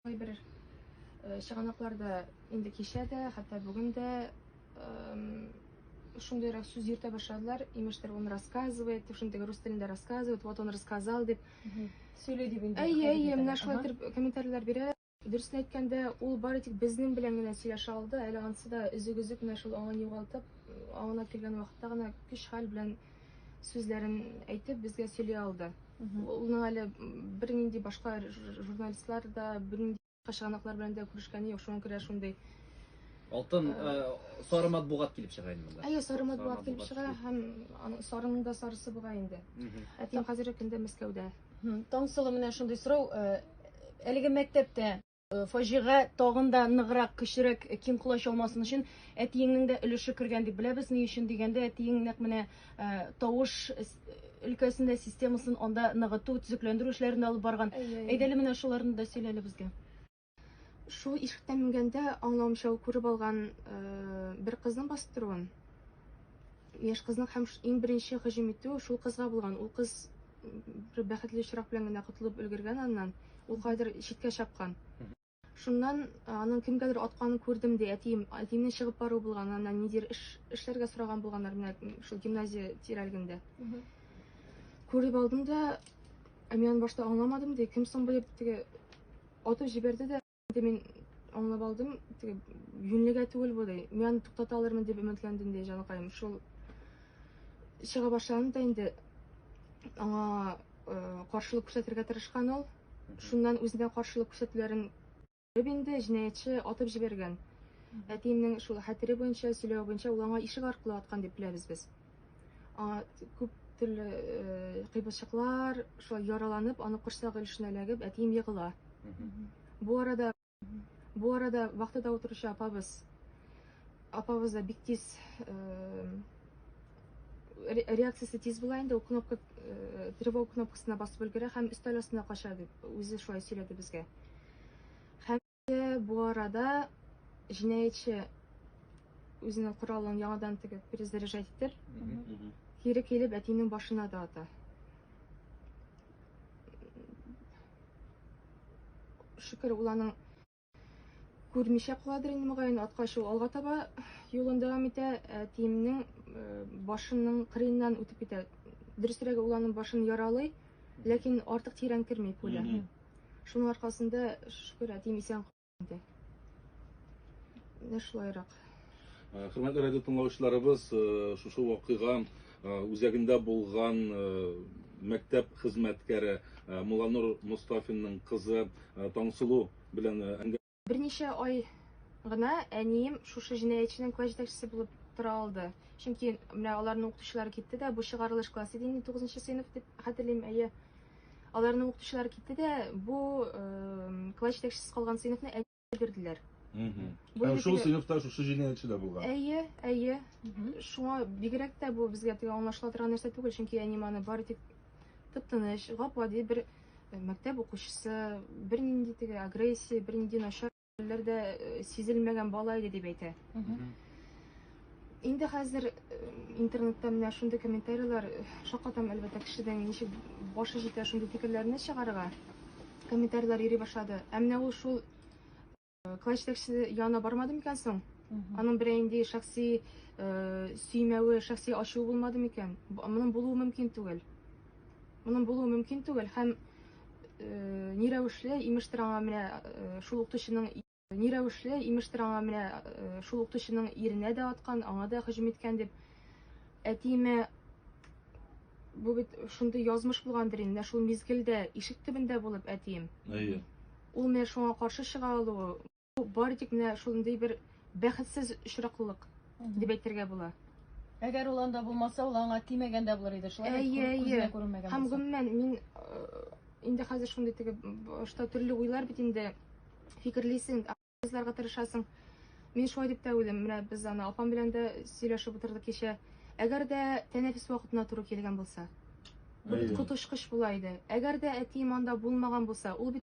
Кайбер чыганакларда инде кичә дә, хәтта бүген дә шундыйрак сүз йөртә башладылар. Имештер, он рассказывает, шундый рус телендә рассказывает, вот он рассказал дип. Сөйли дип инде. Әйе, әйе, менә шулай итеп комментарийлар бирә. Дөресен әйткәндә, ул бары тик безнең белән генә сөйләшә алды, әле анысы да өзек-өзек менә шул аңын югалтып, аңына килгән вакытта гына көч-хәл белән сүзләрен әйтеп безгә сөйли алды. Улның әле бер нинди башка журналистлар да бер нинди чыганаклар белән дә күрешкәне юк, шуңа күрә шундый Алтын э, сары матбугат килеп чыга инде монда. Әйе, сары матбугат килеп чыга һәм аның сарының да сарысы була инде. Әтием хәзерге көндә Мәскәүдә. Таңсылу менә шундый сорау, э, әлеге мәктәптә Э, фаҗига тагын да ныграк, көчлерәк э, киң колач алмасын өчен әтиеңнең дә өлеше кергән дип беләбез. Ни өчен дигәндә, әтиең нәкъ менә э, тавыш өлкәсендә системасын анда ныгыту, төзекләндерү эшләрен алып барган. Әйдә әле менә шуларны да сөйлә әле безгә. Шул ишектән менгәндә аңлавымча ул күреп алган бер кызның бастыруын. Яшь кызның һәм иң беренче һөҗүм итүе шул кызга булган. Ул кыз бер бәхетле очрак белән генә котылып өлгергән аннан. Ул кайдыр читкә чапкан. Шуннан аның кемгәдер атканын күрдем ди, әтием, әтиемнең чыгып бару булган, аннан нидер эш эшләргә сораган булганнар менә шул гимназия тирәлегендә. Күреп алдым да, ә мин аны башта аңламадым ди, кем соң бу дип теге атып җибәрде дә. Инде мин аңлап алдым, теге юньлегә түгел бу ди. Мин аны туктата алырмын дип өметләндем ди җаныкаем. Шул чыга башланды да инде аңа э, каршылык күрсәтергә тырышкан ул. Шуннан үзенә каршылык күрсәтүләрен күреп инде җинаятьче атып җибәргән. Әтиемнең шул хәтере буенча, сөйләве буенча ул аңа ишек аркылы аткан дип беләбез без. аңа күп төрле э, кыйбылчыклар, шулай яраланып, аны корсагы өлешенә эләгеп, әтием егыла. Бу арада бу арада вахтада утыручы апабыз апабыз да бик тиз э, реакциясе тиз була инде, ул кнопка э, тревога кнопкасына басып өлгерә һәм өстәл астына кача дип үзе шулай сөйләде безгә. Һәм Бу арада җинаятьче үзенең коралын яңадан тегеп перезаряжать итеп, кире килеп әтинең башына да ата. Шөкер, ул аның күрмичә каладыр инде мөгаен, аткач ул алга таба юлын дәвам итә, әтиемнең э, башының кырыеннан үтеп китә. Дөресрәге ул аның башын яралый, ләкин артык тирән керми пуля. Шуның аркасында, шөкер, әтием исән инде. Менә шулайрак. Э, хөрмәтле радио тыңлаучыларыбыз, э, шушы вакыйга э, үзәгендә булган мәктәп хезмәткәре Муланур Мустафинның кызы Таңсылу белән әңгәмә Берничә ай гына әнием шушы җинаятьченең класс җитәкчесе булып тора алды. Чөнки менә аларның укытучылары китте дә, бу чыгарылыш класс иде инде 9 сыйныф дип хәтерлим, әйе. Аларның укытучылары китте дә, бу э, класс җитәкчесе калган сыйныфны әниемә бирделәр. Мгм. Бу Һәм инде шул теге- сыйныфта шушы җинаятьче дә булган. Әйе, әйе. Мгм. Шуңа бигрәк тә бу безгә теге аңлашыла торган нәрсә түгел, чөнки әнием аны бары тик тып-тыныч, гап-гади бер Э, мәктәп укучысы бер нинди теге агрессия бер нинди начар хәлләр дә э, сизелмәгән бала иде дип әйтә инде хәзер э, интернетта менә шундый комментарийлар шаккатам әлбәттә кешедән ничек башы җитә шундый фикерләрне чыгарырга комментарийлар йөри башлады ә менә ул шул Клай җитәкчесе янына бармады микән соң? Аның белән инде шәхси сөймәве, шәхси ачуы булмады микән? Моның булуы мөмкин түгел. Моның булуы мөмкин түгел һәм ни рәвешле имештер аңа менә шул укытучының ни рәвешле имештер аңа менә шул укытучының иренә дә аткан, аңа да һөҗүм иткән дип Әтиемә бу бит шундый язмыш булгандыр инде, шул мизгелдә ишек төбендә булып әтием. Әйе. Ул менә шуңа каршы чыга алуы, бу бары тик менә шундый бер бәхетсез очраклылык дип әйтергә була. Әгәр ул анда булмаса, ул аңа тимәгән дә булыр иде, шулай бит, Әйе, кү- күзенә әйе. күренмәгән Һәм булса. гомумән мин э, инде хәзер шундый теге башта төрле уйлар бит инде фикерлисең, Кызларга тырышасың. Мин шулай дип тә уйлыйм. Менә без аны апам белән дә сөйләшеп утырдык кичә. Әгәр дә тәнәфес вакытына туры килгән булса, коточкыч була иде. Әгәр дә әтием анда булмаган булса, ул бит